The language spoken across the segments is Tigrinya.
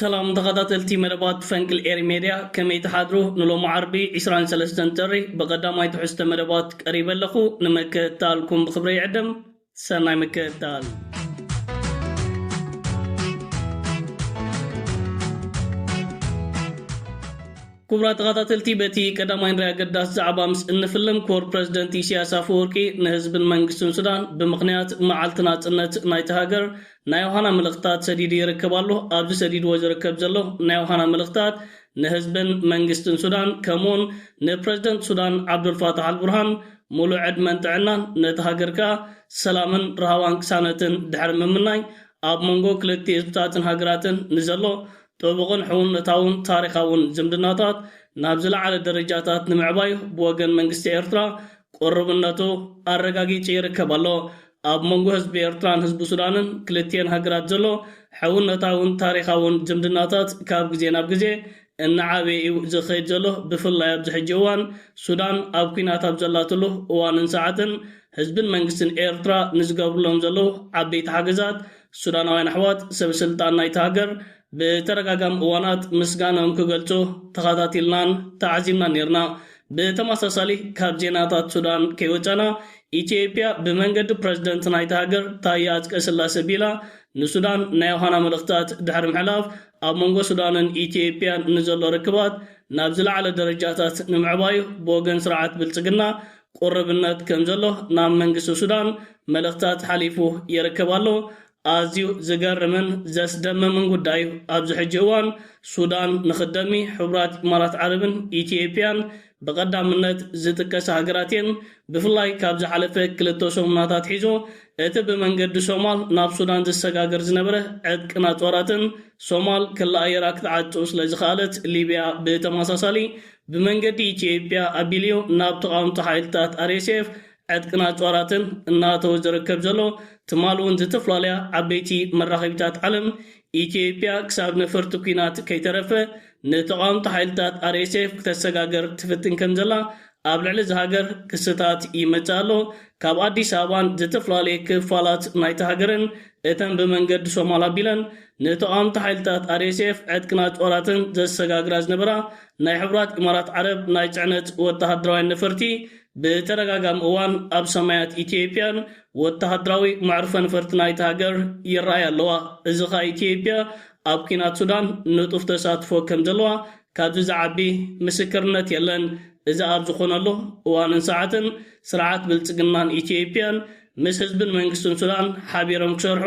ሰላም ተኸታተልቲ መደባት ፈንቅል ኤሪ ሜድያ ከመይ ትሓድሩ ንሎሚ ዓርቢ ዕስራን ሰለስተን ጥሪ ብቐዳማይ ትሕዝቶ መደባት ቀሪበ ኣለኹ ንምክእታልኩም ብኽብሪ ይዕድም ሰናይ ምክእታል ክቡራት ተኻታተልቲ በቲ ቀዳማይ ንሪ ኣገዳሲ ዛዕባ ምስ እንፍልም ክቡር ፕረዚደንት ኢሰያስ ኣፈወርቂ ንህዝብን መንግስትን ሱዳን ብምኽንያት መዓልቲ ናጽነት ናይታ ሃገር ናይ ዮሃና መልእኽትታት ሰዲዱ ይርከብ ኣሎ። ኣብዚ ሰዲድዎ ዝርከብ ዘሎ ናይ ዮሃና መልእኽትታት ንህዝብን መንግስትን ሱዳን ከምኡውን ንፕረዚደንት ሱዳን ዓብዱልፋታሕ ኣልቡርሃን ሙሉእ ዕድመን ጥዕናን ነታ ሃገር ከኣ ሰላምን ራህዋን ቅሳነትን ድሕሪ ምምናይ ኣብ መንጎ ክልቲኡ ህዝብታትን ሃገራትን ንዘሎ ጥቡቕን ሕውነታውን ታሪኻውን ዝምድናታት ናብ ዝለዓለ ደረጃታት ንምዕባይ ብወገን መንግስቲ ኤርትራ ቅሩብነቱ ኣረጋጊጺ ይርከብ ኣሎ። ኣብ መንጎ ህዝቢ ኤርትራን ህዝቢ ሱዳንን ክልቲኤን ሃገራት ዘሎ ሕውነታውን ታሪኻውን ዝምድናታት ካብ ግዜ ናብ ግዜ እናዓበየ እዩ ዝኸይድ ዘሎ ብፍላይ ኣብዚ ሕጂ እዋን ሱዳን ኣብ ኲናት ኣብ ዘላትሉ እዋንን ሰዓትን ህዝብን መንግስትን ኤርትራ ንዝገብሩሎም ዘለዉ ዓበይቲ ሓገዛት ሱዳናውያን ኣሕዋት ሰብ ስልጣን ናይታ ሃገር ብተደጋጋሚ እዋናት ምስጋንኦም ክገልጹ ተኸታቲልናን ተዓዚብናን ኔርና። ብተመሳሳሊ ካብ ዜናታት ሱዳን ከይወጸና ኢትዮጵያ ብመንገዲ ፕረዚደንት ናይታ ሃገር ታየ ኣጽቀስላሰ ቢላ ንሱዳን ናይ ዮሃና መልእኽታት ድሕሪ ምሕላፍ ኣብ መንጎ ሱዳንን ኢትዮጵያን ንዘሎ ርክባት ናብ ዝለዓለ ደረጃታት ንምዕባዩ ብወገን ስርዓት ብልጽግና ቁርብነት ከም ዘሎ ናብ መንግስቲ ሱዳን መልእኽትታት ሓሊፉ ይርከብ ኣሎ። ኣዝዩ ዝገርምን ዘስደምምን ጉዳይ'ዩ፣ ኣብዚ ሕጂ እዋን ሱዳን ንኽደሚ ሕቡራት ኢማራት ዓረብን ኢትዮጵያን ብቐዳምነት ዝጥቀሳ ሃገራት'የን። ብፍላይ ካብ ዝሓለፈ ክልተ ሰሙናት ኣትሒዞ እቲ ብመንገዲ ሶማል ናብ ሱዳን ዝሰጋገር ዝነበረ ዕጥቅን ኣጽዋራትን ሶማል ክለኣየራ ክትዓጽው ስለዝኸኣለት ሊብያ ብተመሳሳሊ ብመንገዲ ኢትዮጵያ ኣቢሊዮ ናብ ተቓወምቲ ሓይልታት RSF ዕጥቅን ኣጽዋራትን እናእተወ ዝርከብ ዘሎ፣ ትማል እውን ዝተፍላለያ ዓበይቲ መራኸቢታት ዓለም፣ ኢትዮጵያ ክሳብ ነፈርቲ ኲናት ከይተረፈ ንተቓወምቲ ሓይልታት RSF ክተሰጋገር ትፍትን ከምዘላ ኣብ ልዕሊ እዛ ሃገር ክስታት ይመጽእ ኣሎ። ካብ ኣዲስ ኣበባን ዝተፍላለየ ክፋላት ናይታ ሃገርን እተን ብመንገዲ ሶማል ኣቢለን ንተቓወምቲ ሓይልታት RSF ዕጥቅና ጦራትን ዘሰጋግራ ዝነበራ ናይ ሕቡራት ኢማራት ዓረብ ናይ ጽዕነት ወተሃደራውያን ነፈርቲ ብተደጋጋሚ እዋን ኣብ ሰማያት ኢትዮጵያን ወተሃደራዊ መዕርፎ ነፈርቲ ናይታ ሃገር ይረኣያ ኣለዋ። እዚ ከኣ ኢትዮጵያ ኣብ ኲናት ሱዳን ንጡፍ ተሳትፎ ከም ዘለዋ ካብዚ ዝዓቢ ምስክርነት የለን። እዚ ኣብ ዝኾነሉ እዋንን ሰዓትን ስርዓት ብልጽግናን ኢትዮጵያን ምስ ህዝብን መንግስትን ሱዳን ሓቢሮም ክሰርሑ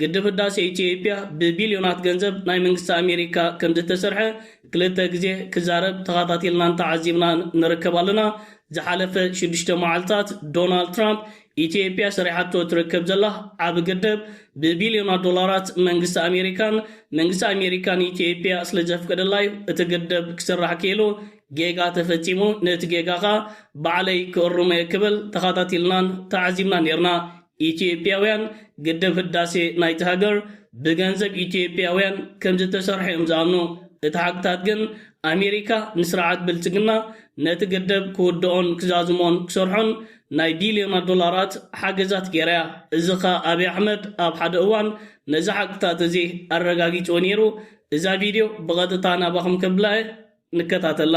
ግድብ ህዳሴ ኢትዮጵያ ብቢልዮናት ገንዘብ ናይ መንግስቲ ኣሜሪካ ከምዝተሰርሐ ክልተ ግዜ ክዛረብ ተኻታቲልናን ተዓዚብናን ንርከብ ኣለና። ዝሓለፈ ሽዱሽተ መዓልታት ዶናልድ ትራምፕ ኢትዮጵያ ሰሪሓቶ ትርከብ ዘላ ዓቢ ግድብ ብቢልዮናት ዶላራት መንግስቲ ኣሜሪካን መንግስቲ ኣሜሪካ ንኢትዮጵያ ስለዘፍቀደላዩ እቲ ግድብ ክስራሕ ክኢሉ ጌጋ ተፈጺሙ ነቲ ጌጋ ከኣ ባዕለይ ክእርሞየ ክብል ተኻታቲልናን ተዓዚብናን ኔርና። ኢትዮጵያውያን ግድብ ህዳሴ ናይታ ሃገር ብገንዘብ ኢትዮጵያውያን ከምዝተሰርሐ እዮም ዝኣምኑ። እቲ ሓቅታት ግን ኣሜሪካ ንስርዓት ብልፅግና ነቲ ግድብ ክውድኦን ክዛዝሞን ክሰርሖን ናይ ቢልዮናት ዶላራት ሓገዛት ገይራ እያ። እዚ ከኣ ኣብይ ኣሕመድ ኣብ ሓደ እዋን ነዚ ሓቅታት እዚ ኣረጋጊፅዎ ነይሩ። እዛ ቪድዮ ብቐጥታ ናባኹም ከብላ እየ። ንከታተላ።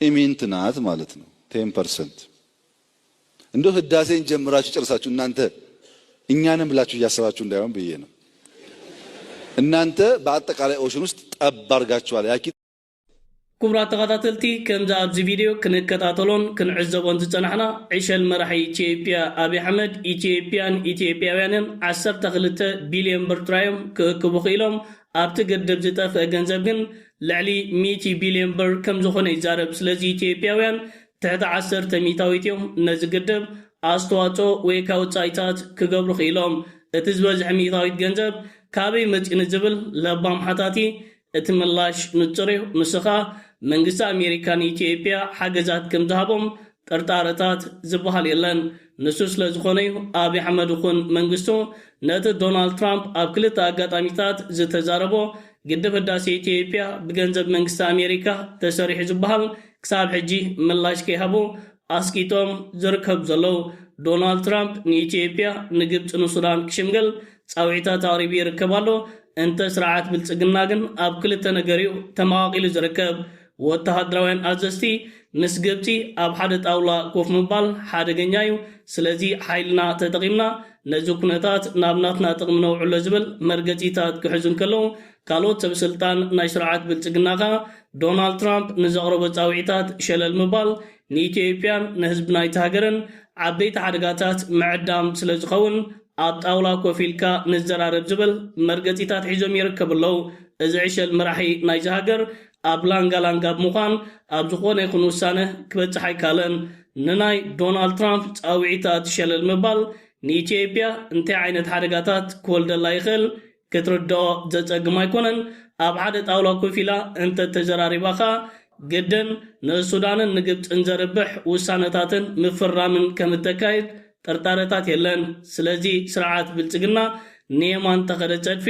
ኢሚንት ናት ማለት ነው ቴን ፐርሰንት እንደው ህዳሴን ጀምራችሁ ጨርሳችሁ እናንተ እኛንም ብላችሁ እያሰባችሁ እንዳይሆን ብዬ ነው። እናንተ በአጠቃላይ ኦሽን ውስጥ ጠብ አድርጋችኋል። ያኪ ክቡራት ተኸታተልቲ ከምዚ ኣብዚ ቪድዮ ክንከታተሎን ክንዕዘቦን ዝጸናሕና ዕሸል መራሒ ኢትዮጵያ ኣብዪ ኣሕመድ ኢትዮጵያን ኢትዮጵያውያንን 12 ቢልዮን ብር ጥራዮም ክእክቡ ክኢሎም ኣብቲ ግድብ ዝጠፍእ ገንዘብ ግን ልዕሊ ሚእቲ ቢልዮን ብር ከምዝኾነ ይዛረብ። ስለዚ ኢትዮጵያውያን ትሕቲ ዓሰርተ ሚእታዊት እዮም ነዚ ግድብ ኣስተዋፅኦ ወይካ ወፃኢታት ክገብሩ ክኢሎም። እቲ ዝበዝሐ ሚእታዊት ገንዘብ ካበይ መፂኡ ንዝብል ለባም ሓታቲ እቲ ምላሽ ንፁር እዩ። ንሱ ከዓ መንግስቲ ኣሜሪካ ንኢትዮጵያ ሓገዛት ከምዝሃቦም ጥርጣረታት ዝበሃል የለን። ንሱ ስለ ዝኾነ'ዩ ኣብይ ኣሕመድ ኹን መንግስቱ ነቲ ዶናልድ ትራምፕ ኣብ ክልተ ኣጋጣሚታት ዝተዛረቦ ግድብ ህዳሴ ኢትዮጵያ ብገንዘብ መንግስቲ ኣሜሪካ ተሰሪሑ ዝበሃል ክሳብ ሕጂ ምላሽ ከይሃቡ ኣስቂጦም ዝርከቡ ዘለዉ። ዶናልድ ትራምፕ ንኢትዮጵያ፣ ንግብፂ ንሱዳን ክሽምግል ፃውዒታት ኣቕሪቡ ይርከብ ኣሎ። እንተ ስርዓት ብልፅግና ግን ኣብ ክልተ ነገር'ዩ ተመቓቒሉ ዝርከብ። ወተሃደራውያን ኣዘዝቲ፣ ምስ ግብጺ ኣብ ሓደ ጣውላ ኮፍ ምባል ሓደገኛ'ዩ፣ ስለዚ ሓይልና ተጠቒምና ነዚ ኩነታት ናብ ናትና ጥቕሚ ነውዕሎ ዝብል መርገጺታት ክሕዙ እንከለዉ፣ ካልኦት ሰበስልጣን ናይ ስርዓት ብልጽግና ከኣ ዶናልድ ትራምፕ ንዘቕረቦ ጻውዒታት ሸለል ምባል ንኢትዮጵያን ንህዝቢ ናይታ ሃገርን ዓበይቲ ሓደጋታት ምዕዳም ስለዝኸውን ኣብ ጣውላ ኮፍ ኢልካ ንዘራረብ ዝብል መርገጺታት ሒዞም ይርከቡ ኣለዉ። እዚ ዕሸል መራሒ ናይዛ ሃገር፣ ኣብ ላንጋ ላንጋ ብምዃን ኣብ ዝኾነ ይኹን ውሳነ ክበጽሕ ኣይካለን። ንናይ ዶናልድ ትራምፕ ጻውዒት ኣቲ ሸለል ምባል ንኢትዮጵያ እንታይ ዓይነት ሓደጋታት ክወልደላ ይኽእል ክትርድኦ ዘጸግም ኣይኮነን። ኣብ ሓደ ጣውላ ኮፍ ኢላ እንተተዘራሪባ ከኣ ግድን ንሱዳንን ንግብጽን ዘርብሕ ውሳነታትን ምፍራምን ከም እተካይድ ጥርጣረታት የለን። ስለዚ ስርዓት ብልጽግና ንየማን ተኸደ ጸድፊ፣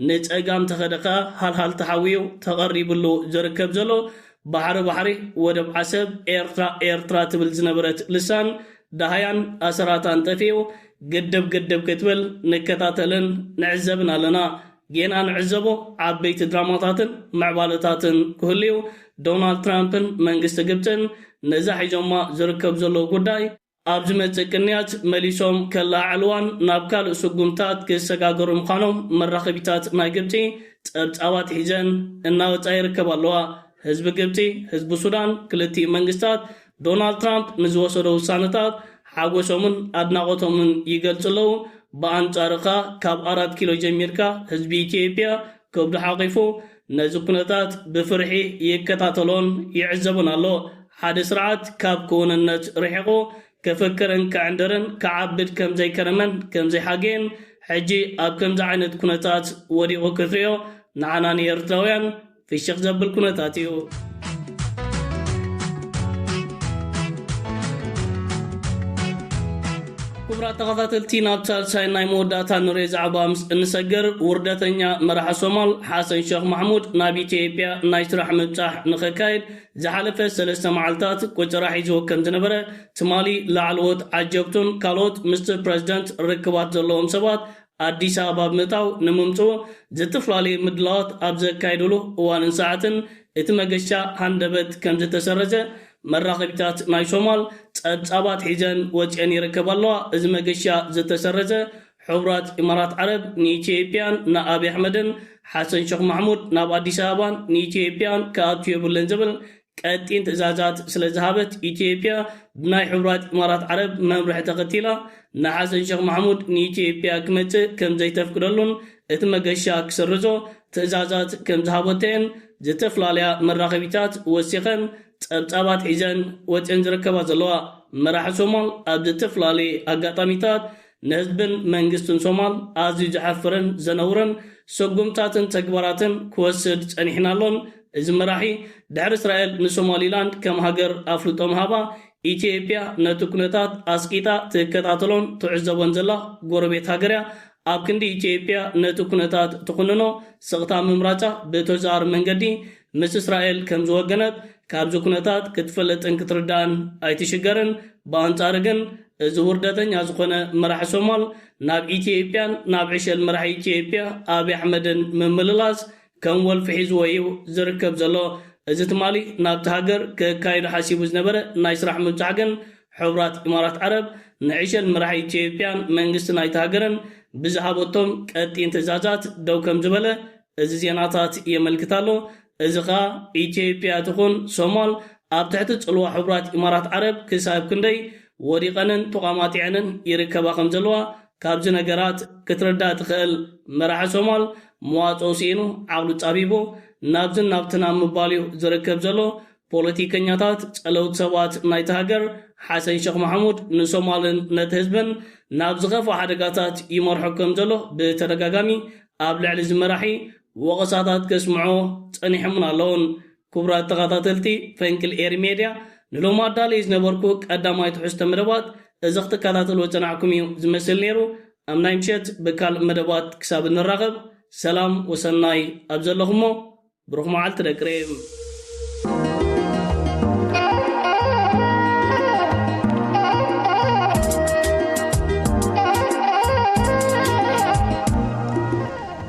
ንጸጋም ተኸደ ከኣ ሃልሃልታ ሓዊ'ዩ ተቐሪብሉ ዝርከብ ዘሎ። ባሕሪ ባሕሪ፣ ወደብ ዓሰብ፣ ኤርትራ ኤርትራ ትብል ዝነበረት ልሳን ደሃያን ኣሰራታን ጠፊኡ ግድብ ግድብ ክትብል ንከታተልን ንዕዘብን ኣለና። ጌና ንዕዘቦ ዓበይቲ ድራማታትን ምዕባለታትን ክህሉ'ዩ። ዶናልድ ትራምፕን መንግስቲ ግብጽን ነዛ ሒዞማ ዝርከቡ ዘለዉ ጉዳይ፣ ኣብ ዝመጽእ ቅንያት መሊሶም ከለዓዕልዋን ናብ ካልእ ስጉምትታት ክሰጋገሩን ምዃኖም መራኸቢታት ናይ ግብጺ ጸብጻባት ሒዘን እናወጻ ይርከባ ኣለዋ። ህዝቢ ግብጺ፣ ህዝቢ ሱዳን፣ ክልቲኡ መንግስታት ዶናልድ ትራምፕ ንዝወሰዶ ውሳነታት ሓጎሶምን ኣድናቖቶምን ይገልጹ ኣለዉ። ብኣንጻሩ ከኣ ካብ ኣራት ኪሎ ጀሚርካ ህዝቢ ኢትዮጵያ ከብዱ ሓቚፉ ነዚ ኩነታት ብፍርሒ ይከታተሎን ይዕዘቦን ኣሎ። ሓደ ስርዓት ካብ ክውንነት ርሒቑ ክፍክርን ክዕንድርን ክዓብድ ከም ዘይከረመን ከም ዘይሓገየን ሕጂ ኣብ ከምዚ ዓይነት ኩነታት ወዲቑ ክትሪኦ ንዓና ንኤርትራውያን ፍሽኽ ዘብል ኩነታት እዩ። ክቡራት ተኸታተልቲ ናብ ሳልሳይ ናይ መወዳእታ ንሬ ዛዕባ ምስ እንሰገር ውርደተኛ መራሒ ሶማል ሓሰን ሸኽ ማሕሙድ ናብ ኢትዮጵያ ናይ ስራሕ ምብጻሕ ንኸካየድ ዝሓለፈ ሰለስተ መዓልታት ቆጸራ ሒዝዎ ከም ዝነበረ ትማሊ ላዕለዎት ዓጀብቱን ካልኦት ምስቲ ፕረዚደንት ርክባት ዘለዎም ሰባት ኣዲስ ኣበባ ብምእታው ንምምጽኡ ዝትፈላለየ ምድላዋት ኣብ ዘካየድሉ እዋንን ሰዓትን እቲ መገሻ ሃንደበት ከም ዝተሰረዘ መራኸቢታት ናይ ሶማል ጸብጻባት ሒዘን ወጺኤን ይርከባ ኣለዋ። እዚ መገሻ ዝተሰረዘ፣ ሕቡራት ኢማራት ዓረብ ንኢትዮጵያን ንኣብይ ኣሕመድን ሓሰን ሸኽ ማሕሙድ ናብ ኣዲስ ኣበባን ንኢትዮጵያን ክኣቱ የብሉን ዝብል ቀጢን ትእዛዛት ስለዝሃበት ኢትዮጵያ ብናይ ሕቡራት ኢማራት ዓረብ መምርሒ ተኸቲላ ንሓሰን ሸኽ ማሕሙድ ንኢትዮጵያ ክመጽእ ከምዘይተፍቅደሉን እቲ መገሻ ክስርዞ ትእዛዛት ከምዝሃበቶ'የን ዝተፍላለያ መራኸቢታት ወሲኸን ጸብጻባት ሒዘን ወጺኤን ዝርከባ ዘለዋ፣ መራሒ ሶማል ኣብ ዝተፍላለየ ኣጋጣሚታት ንህዝብን መንግስትን ሶማል ኣዝዩ ዘሕፍርን ዘነውርን ስጉምታትን ተግባራትን ክወስድ ጸኒሕን ኣሎን፣ እዚ መራሒ ድሕሪ እስራኤል ንሶማሊላንድ ከም ሃገር ኣፍልጦ ምሃባ፣ ኢትዮጵያ ነቲ ኩነታት ኣስቂጣ ትከታተሎን ትዕዘቦን ዘላ ጎረቤት ሃገር'ያ፣ ኣብ ክንዲ ኢትዮጵያ ነቲ ኩነታት ትኹንኖ ስቕታ ምምራጻ ብተዘዋዋሪ መንገዲ ምስ እስራኤል ከም ዝወገነት ካብዚ ኩነታት ክትፈልጥን ክትርዳእን ኣይትሽገርን። ብኣንጻሩ ግን እዚ ውርደተኛ ዝኾነ መራሒ ሶማል ናብ ኢትዮጵያን ናብ ዕሸል መራሒ ኢትዮጵያ ኣብይ ኣሕመድን ምምልላስ ከም ወልፊ ሒዝዎ እዩ ዝርከብ ዘሎ። እዚ ትማሊ ናብታ ሃገር ከካይዶ ሓሲቡ ዝነበረ ናይ ስራሕ ምብጻሕ ግን ሕቡራት ኢማራት ዓረብ ንዕሸል መራሒ ኢትዮጵያን መንግስቲ ናይታ ሃገርን ብዝሃበቶም ቀጢን ትእዛዛት ደው ከም ዝበለ እዚ ዜናታት የመልክት ኣሎ። እዚ ከኣ ኢትዮጵያ ትኹን ሶማል ኣብ ትሕቲ ጽልዋ ሕቡራት ኢማራት ዓረብ ክሳብ ክንደይ ወዲቐንን ተቋማጢዐንን ይርከባ ከም ዘለዋ ካብዚ ነገራት ክትርዳእ ትኽእል። መራሒ ሶማል መዋጽኦ ሲኢኑ ዓቕሉ ጻቢቡ ናብዝን ናብትን ኣብ ምባል'ዩ ዝርከብ ዘሎ። ፖለቲከኛታት፣ ጸለውቲ ሰባት ናይታ ሃገር፣ ሓሰን ሸኽ ማሕሙድ ንሶማልን ነቲ ህዝብን ናብ ዝኸፍኣ ሓደጋታት ይመርሖ ከም ዘሎ ብተደጋጋሚ ኣብ ልዕሊ'ዚ መራሒ ወቐሳታት ከስምዑ ጸኒሖምን ኣለዉን። ክቡራት ተኻታተልቲ ፈንቅል ኤሪ ሜድያ ንሎሚ ኣዳልየ ዝነበርኩ ቀዳማይ ትሕዝቶ መደባት እዚ ክትከታተልዎ ዝጸናሕኩም እዩ ዝመስል ነይሩ። ኣብ ናይ ምሸት ብካልእ መደባት ክሳብ እንራኸብ ሰላም ወሰናይ ኣብ ዘለኹሞ ብሩኽ መዓልቲ ደቂ ሬም።